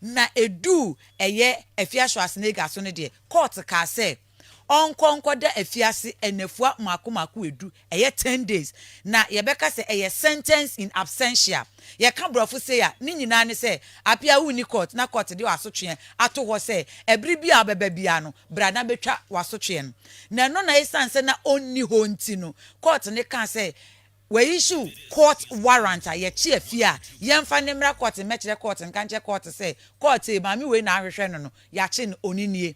Na eduu ɛyɛ afiaso asenega so no deɛ, kɔɔt kaa sɛ ɔnkɔ nkɔda afiase nnafua mmaako mmaako edu, ɛyɛ ten days, na yɛbɛka sɛ ɛyɛ sentence in absentia. Yɛka borɔfo sei a, ne nyinaa ne sɛ, apia wonni kɔɔt na kɔɔt de w'asotweɛ ato hɔ sɛ ɛbere biara a wobɛba biara no, bra na bɛtwa w'asotweɛ no. Na ɛno na esiane sɛ na ɔnni hɔ nti no, kɔɔt no kaa sɛ, Wɔ issue court warrant a yɛkye afie a yɛnfa no mmra court mmɛkyerɛ court nka nkyerɛ court sɛ court ee maame wei na ahwehwɛ no no yɛakye no oni nie.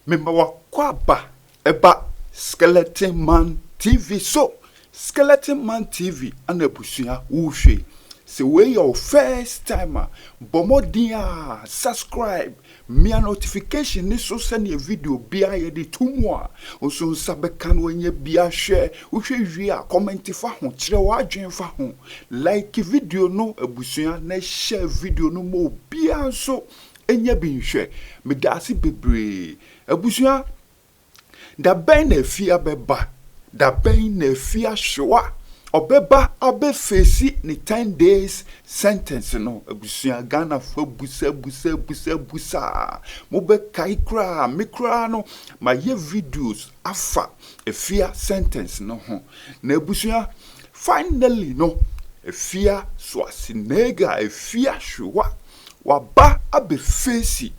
Mema w'akwaaba Ɛba Skeleton Man TV so! Skeleton Man TV na abusua worehwɛ yi. Sɛ wei yɛ wo first time a, bɔ mmɔden ara subscribe, mia notification no so sɛdeɛ video biara yɛde to mu a, wo nso wo nsa bɛka na woanya bi ahwɛ. Wohwɛ wie a, comment fa ho, kyerɛ w'adwene fa ho. Like video no abusua na share video no ma obiara nso nya bi nhwɛ. Meda ase bebree. Abusua, da bɛn na afi abɛba? Da bɛn na afi ahyew a ɔbɛba abɛfeesi ne ten days sentence no? Abusua, Ghanafoɔ abusa busa busa busa a, mobɛkae koraa, me koraa no, mayɛ videos afa afia sentence no ho. Na abusua, finally no, afia Soasenega, afia Hwewa, waba abɛfeesi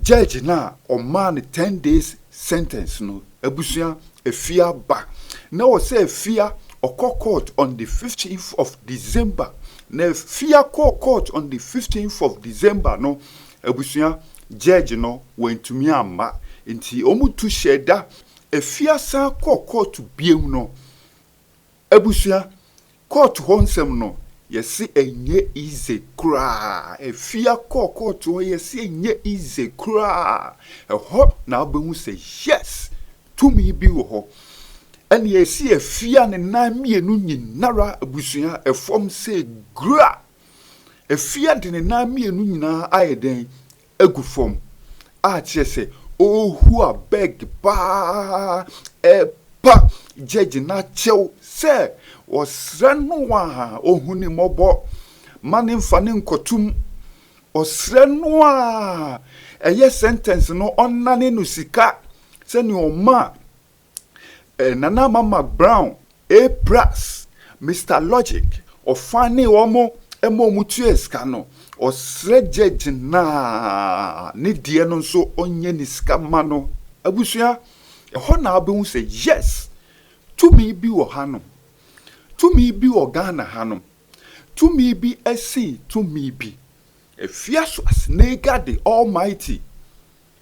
Judge no a ɔmaa no ten days sentence no abusua Afia ba na ɔsɛ Afia ɔkɔ court on the fifteenth of December na Afia kɔɔ court on the fifteenth of December no abusua Judge no wantumi amma nti wɔn tu hyɛɛ da Afia san kɔɔ court biam no Abusua kɔɔto hɔ nsɛm no yɛse ɛnyɛ easy koraa afia kɔɔ kɔɔto hɔ yɛse ɛnyɛ easy koraa ɛhɔ na wobɛhu sɛ yes tumi bi wɔ hɔ ɛne ɛse afia ne nan mmienu nyinara abusua ɛfɔm sɛ gura afia de ne nan mmienu nyinaa ayɛ dɛn agu fam a kyerɛ sɛ ɔrehua bag paa repa gyɛgye no akyɛw sɛ ɔsrɛ no a ɔhu ne mmɔbɔ ma no mfa no nkɔto mu, ɔsrɛ no a ɛyɛ sɛntɛnse no ɔnnane no sika sɛnea ɔma Nana Mama Brown, A-Brass, Mister Logic, ɔfã ne wɔn ma wɔn tuaa sika no, ɔsrɛ gyɛɛgye no a ne deɛ no nso ɔnyɛ ne sika mma no. Abusua, ɛhɔ na wobɛhu sɛ yes, tumi bi wɔ hanom, tumi bi wɔ Ghana hanom, tumi bi sen tumi bi. Ɛfiri Asoasenegade Almighty.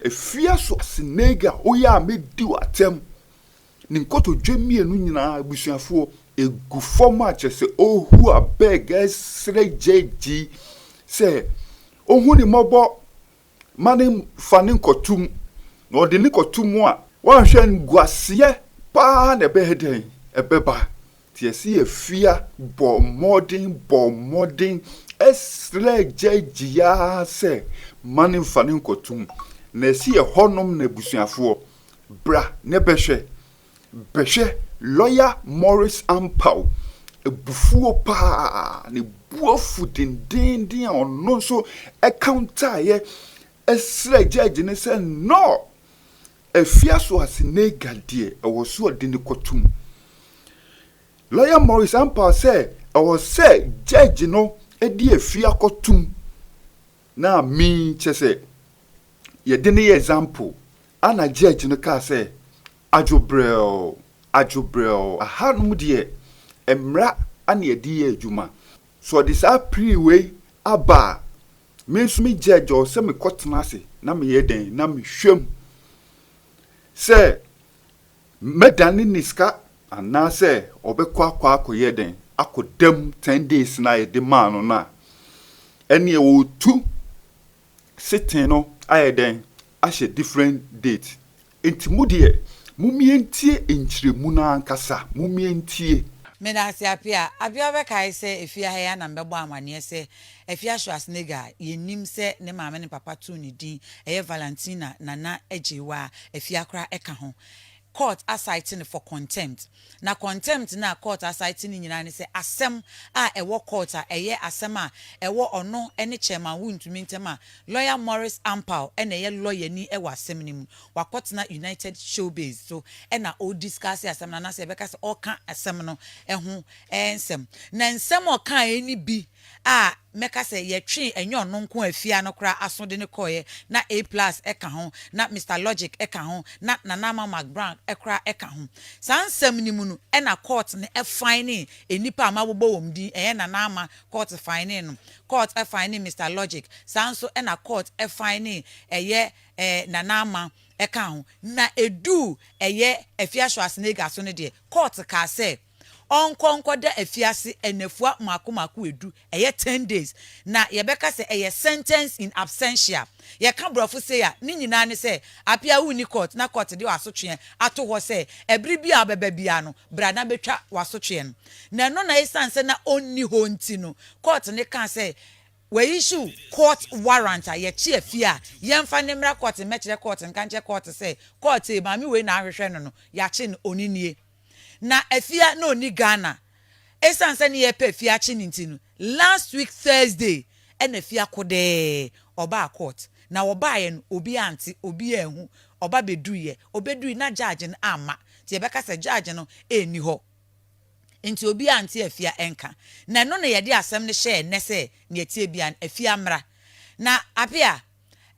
Afia so Senega oyɛ a mɛdi wo atɛm ne nkotodwe mmienu nyinaa abusuafoɔ ɛgu fam a kyerɛ sɛ ɔrehu abeg ɛresrɛ gyɛɛgyi sɛ ɔhu ne mmɔbɔ ma ne fa ne nkɔtom na ɔde ne kɔtom a. Woanhwɛ a nguaseɛ paa na ɛbɛyɛ dɛn ɛbɛba Teaseɛ fia bɔɔ mmɔden bɔɔ mmɔden srɛɛ gyagye ara sɛ, Mma no mfa no nkɔto mu. Na ɛse ɛhɔnom na abusuafoɔ, bra na bɛhwɛ, bɛhwɛ. Lɔya Morris ampaw abufuo pa ara, ne bo afu dendeenden a ɔno nso ɛkawntaaeɛ srɛɛ gyagye no sɛ, No! Afia so ase nega deɛ ɛwɔ so ɔde no kɔ tom. Lawyer Morris ampaa sɛ ɛwɔ sɛ judge no de afia kɔ tom na min kyɛ sɛ yɛde no yɛ example ana judge no kaa sɛ adwo brɛɛo adwo brɛɛo aha nom deɛ mmra ana yɛde yɛ adwuma so ɔde saa plea wei aba a Me nso me gya gyɔɔ sɛ me kɔ tena ase na me yɛ dɛn na me hwɛ mu sɛ mɛ dan ne ne sika anaa sɛ ɔbɛ kɔ akɔ akɔ yɛ dɛn akɔ dɛm ten days na yɛ de maa no na ɛne yɛ wɔ tu sitting no ayɛ dɛn ahyɛ different date Enti mo deɛ, mommie ntie nkyerɛmu no ankasa, mommie ntie. Meda ase Apia. Apia wobɛkae sɛ efie ha yi ara na mebɛbɔ amanneɛ sɛ Afia Schwarzenegger a yenim sɛ ne maame ne papa too ne din ɛyɛ Valentina Nana Agyeiwaa Afia koraa ka ho. Court a cite no for contempt. Na contempt no a court asan te no nyinaa ne sɛ asɛm a ɛwɔ court a ɛyɛ asɛm a ɛwɔ ɔno ne Chairman Wontumi ntam a Lawyer Maurice Ampaw na ɛyɛ lawyer ni wɔ asɛm no mu. Wakɔtena United Showbiz so na ɔrediscuss asɛm no anaasɛ yɛbɛka sɛ ɔreka asɛm no ho nsɛm. Na nsɛm a ɔkaeɛ no bi a mɛka sɛ yɛtwee ɛnyɛ ɔno nko a fie ha no koraa aso de no kɔeɛ, na A Plus ka ho, na Mister Logic ka ho, na Nana Ama McBrown koraa ka ho. Saa nsɛm no mu no na Court no finee nnipa a mabobɔ wɔn din, ɛyɛ Nana Ama, Court finee no, Court finee Mister Logic, saa nso na Court finee ɛyɛ Nana Ama ka ho. Na ɛduu ɛyɛ Afia Schwarzenegger so no deɛ, Court kaa sɛ, ɔnkɔ nkɔda afiase nnafua mmaako mmaako edu, ɛyɛ ten days, na yɛbɛka sɛ ɛyɛ sentence in absentia. Yɛka Borɔfo sei a, ne nyinaa ne sɛ appear a wonni court na court de w'asotweɛ ato hɔ sɛ ɛbere biara a wobɛba biara no, bra na bɛtwa w'asotweɛ no. Na ɛno na esiane sɛ na ɔnni hɔ nti no, court no kaa sɛ w'aissue court warrant a yɛkye afie a yɛmfa no mmra court mmɛkyerɛ court nka nkyerɛ court sɛ court ei maame wei na ahwehwɛ no no, yɛakye no, ɔno nie. Na Afia na ɔnni Ghana. Ɛsiane sɛ ne yɛrepɛ Afia akye no nti no, last week Thursday na Afia kodɛɛ, ɔbaa court. Na ɔbaeɛ no, obiara ante, obiara anhu. Ɔba bɛduruiɛ, ɔbɛduruiɛ na judge no amma. Nti yɛbɛka sɛ judge no nni hɔ. Nti obiara ante Afia nka. Na ɛno na yɛde asɛm no hyɛɛ nnɛ sɛ deɛ ɛteɛ biara no, Afia mmra. Na Apea,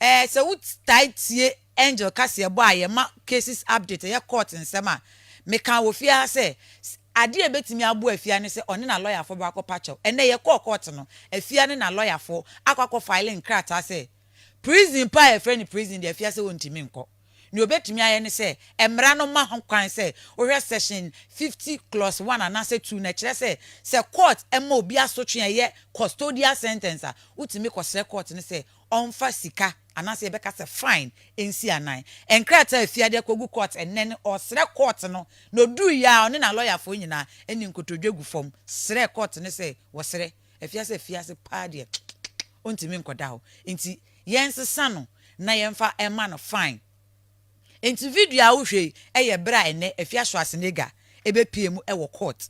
Ɛɛ sɛ wo tae tie Angel kaseɛbɔ a yɛma cases update ɛyɛ court nsɛm a, mekaa wɔ fie ha sɛ adeɛ a ɛbɛtumi aboa Afia ne sɛ ɔne na lɔyafoɔ bɛ akɔ pa kyɛw. Ɛnnɛ yɛ kɔɔ court no, Afia ne na lɔyafoɔ akɔ akɔ file nkrataa sɛ prison pa a yɛfrɛ no prison deɛ Afia sɛ ɔntumi nkɔ. Nea obetumi ayɛ ne sɛ mmara no ma ho kwan sɛ wohwɛ Section fifty clause one anaasɛ two no. Ɛkyerɛ sɛ, sɛ kɔɔt ma obi asotwe a ɛyɛ custodial sentence a, wotumi kɔsrɛ kɔɔt no sɛ ɔmfa sika anaasɛ yɛbɛka sɛ fine nsi anan. Nkrataa a efi ade akogu kɔɔt nnɛ no, ɔsrɛ kɔɔt no na oduui a ɔne n'alɔyafoɔ nyinaa ne nkotodwe gu fam srɛ kɔɔt no sɛ wɔsrɛ Afiase afiase paa deɛ ɔntumi nkɔda hɔ nti yɛnsesa no na yɛmfa ɛma no fine. Nti video a wohwɛ yi ɛyɛ berɛ a ɛnɛ Afiasoa Senega ɛbɛpie mu ɛwɔ court.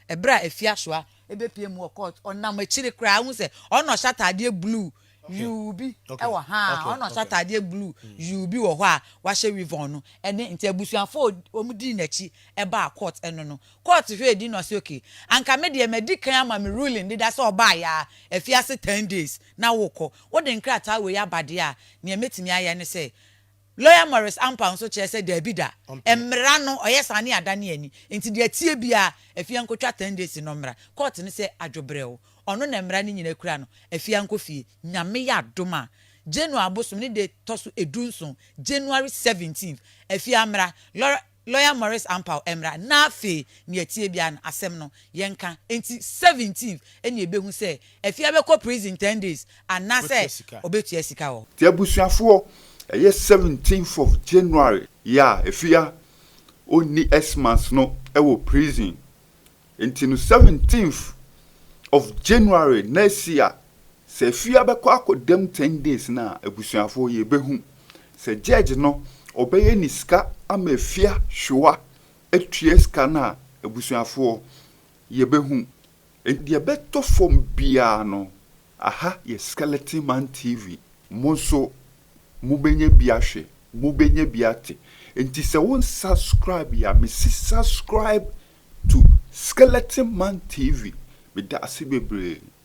Ɛberɛ a Afiasoa ɛbɛpie mu wɔ court ɔnam akyire koraa wohu sɛ ɔno na ɔhyɛ ataadeɛ blue yuu bi wɔ ha a ɔno na ɔhyɛ ataadeɛ blue yuu bi wɔ hɔ a wahyɛ weavon no ɛne nti abusuafoɔ a wɔn dii n'akyi ɛbaa court ɛno no court hwɛɛ din na ɔse ok anka me deɛ madi kan ama me ruling deda sɛ ɔbaeɛ a afi ase ten days na worekɔ wode nkrataa wei aba deɛ a neɛ mɛtumi ayɛ ne sɛ Lawyer Maurice Ampang nso kyerɛ sɛ daabi da, mmara no ɔyɛ saa ne adane ani, nti deɛ ɛteɛ biara Afia nkɔtwa ten days no mmra court no sɛ adwobrɛw, ɔno na mmara no nyina kura no, Afia nkɔ fie. Nyame yɛ adom a, January abosom ne da ɛtɔ so du nson, January 17th, Afia mmra, Lawyer. Lawyer Maurice Ampaw mmra na afei nea ɛteɛ biara no asɛm no yɛnka enti seventeenth ɛna yɛbɛhu sɛ Afia bɛkɔ prison ten days anaasɛ ɔbɛtua sika wɔ hɔ. Nti abusuafoɔ ɛyɛ seventeenth of January yi a Afia ɔnni Xmas no wɔ prison Nti no seventeenth of January next year sɛ afia bɛkɔ akɔ dam ten days no a abusuafoɔ yɛbɛhu sɛ judge no ɔbɛyɛ ne sika ama afia hwewa atua sika no a abusuafoɔ yɛbɛhu nti deɛ ɛbɛtɔ fam biara no aha yɛ Skeleton Man TV mo nso mobɛnya bi ahwɛ mobɛnya bi ate nti sɛ wo nsubscribe yɛ a mese subscribe to Skeleton Man TV, meda ase bebree.